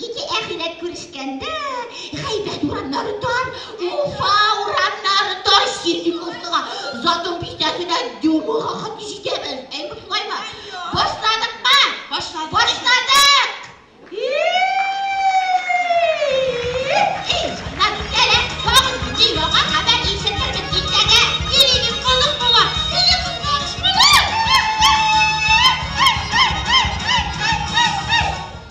Ике әхирәт күрешкәндә, гайбәт урамнары тар, Уфа урамнары тар, Ситдиковскага, Затон бистәсенә Дюмуга хат җитәбез. Әй, шулаймы? Башладыкмы? Башладык. Башладык!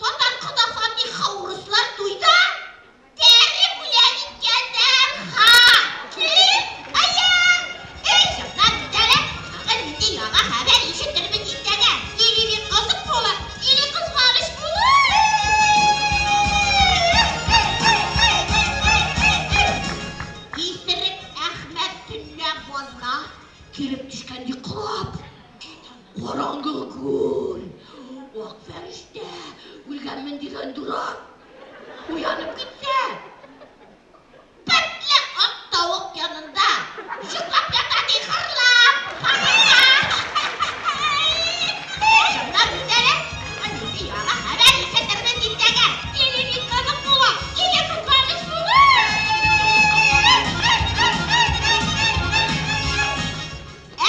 Татар кодаса нихха урыслар туйда тәре гүлән иткән дәрха ки аян эй җырда битәре тагын нинди яңа хәбәр ишетербез иртәгә или бик кызык булыр или кызганыч булыр исерек әхмәт төнлә базга килеп төшкән йоклап. Караңгы күл. Ак фәрештә, үлгәнмен дигән дурак. Уянып китсә, бетле ак тавык янында йоклап ята, ди, хырлап, хырлап. Чынлап бит әле, әнисе яңа хәбәр ишетермен дисәгә, телевик кызык була, ике кызганыч була. Ә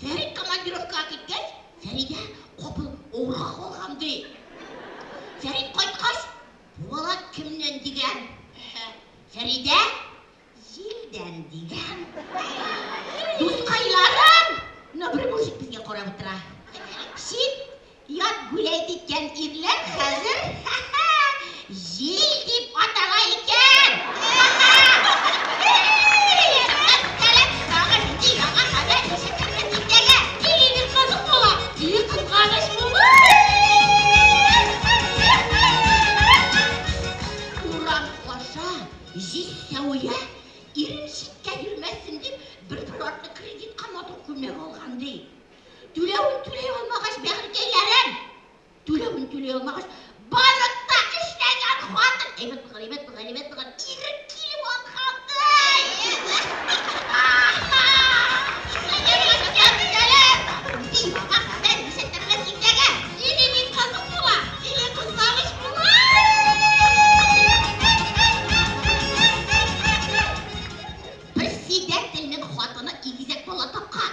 Фәрит командировкага киткәч, Фәридә капыл авырга калган, ди. Фәрит кайткач, бу бала кемнән дигән? Фәридә, Җилдән дигән. Дускайларым, но бер мужик безгә карап утыра. Чит Ят гүләй киткән ирләр хәзер ха-ха, җил дип атала икән! Ха-ха! Һе-ей! Рәхмәт, сәлам, яңа җиде, яңа хәбәр, ничек кердең иртәгә? Тиле бит кызык була, тиле кызганыч була! Һе-ей! Урам аша җил сәвия, ирем читкә йөрмәсен дип, бер-бер артлы кредитка матур күлмәк алган, ди. Түләвен түләй алмагач, бәгырькәйләрем! Түләвен түләй алмагач, барып та эшләгән хатын! Әйбәт булган, әйбәт булган, әйбәт булган, ирек килеп алганды! Председательнең хатыны игезәк бала тапкан.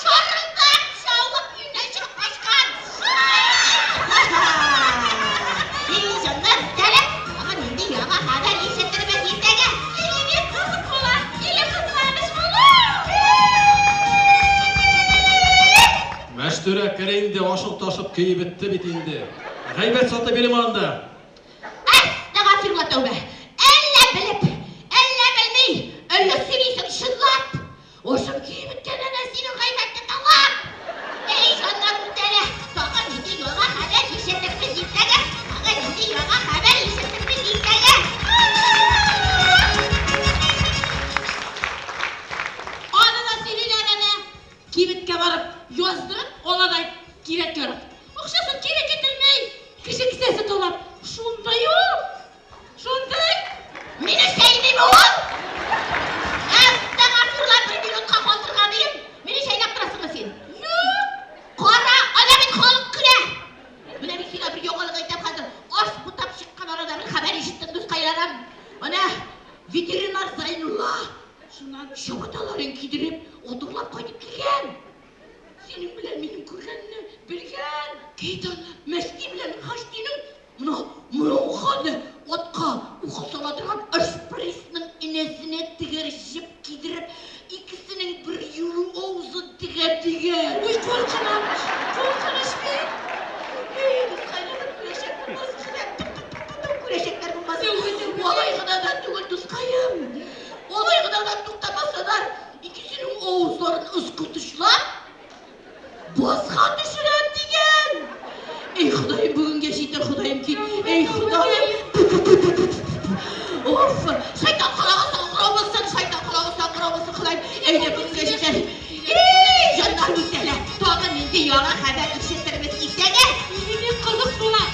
Шарылдап шавып юнәчәк качкан. Әй, җаннар, бетәләр! Тагын нинди яңа хәбәр ишетербез иртәгә? Әйе бит, кызык була! Или кызганыч була? Мәчтүрә, кер инде, ашык-ташык көе бетте бит инде. Гайбәт саты бирем анда. Әстәгафирулла тәүбә! Әллә белеп, әллә белми, әллә сөйлисең чынлап? Ошым көеп беткән әнә синең гайбәтне тыңлап! Әй, җаннар үтәлә! Тагын нинди яңа хәбәр ишетербез иртәгә? Тагын нинди яңа хәбәр ишеттербез иртәгә? Аны да сөйлиләр әнә. Кибеткә барып, яздырып ала да кирәк-ярак. Акчасын кире китерми. Кеше кесәсе талап, шунда юк. Шундый! Мине чәйними ул! Әттә Гасурлар бер минутка калдырга дием, мине чәйнәп торасыңмы син? Юк! Кара, ана бит халык көлә! Менә мин сиңа бер яңалык әйтәм хәзер, аш бутап чыккан арада бер хәбәр ишеттем, дускайларым. Ана ветеринар Зайнулла шуннан чабаталарын кидереп, атырлап кайтып килгән. Синең белән минем күргәнне белгән. Кит аны, Мәсти белән Хәстинең Моны моруканы атка ук сала торган ашпресның энәсенә тегәр җеп кидереп, икесенең бер юлу авызын тегә тегә. Уй, куркыныч, куркыныч бит. Бозга төшерәм дигән! Эй, Ходаем, бүгенгә җитер, Ходаем, кит! Эй, Ходаем! Уф! Шайтан карагы саңгырау булсын, шайтан карагы саңгырау булсын, Ходаем! Әйдә, бүгенгә җитер! Эй, җаннар, бик тәлә! Тагы нинди яңа хәбәр ишетербез иртәгә? Үзе бик кызык була.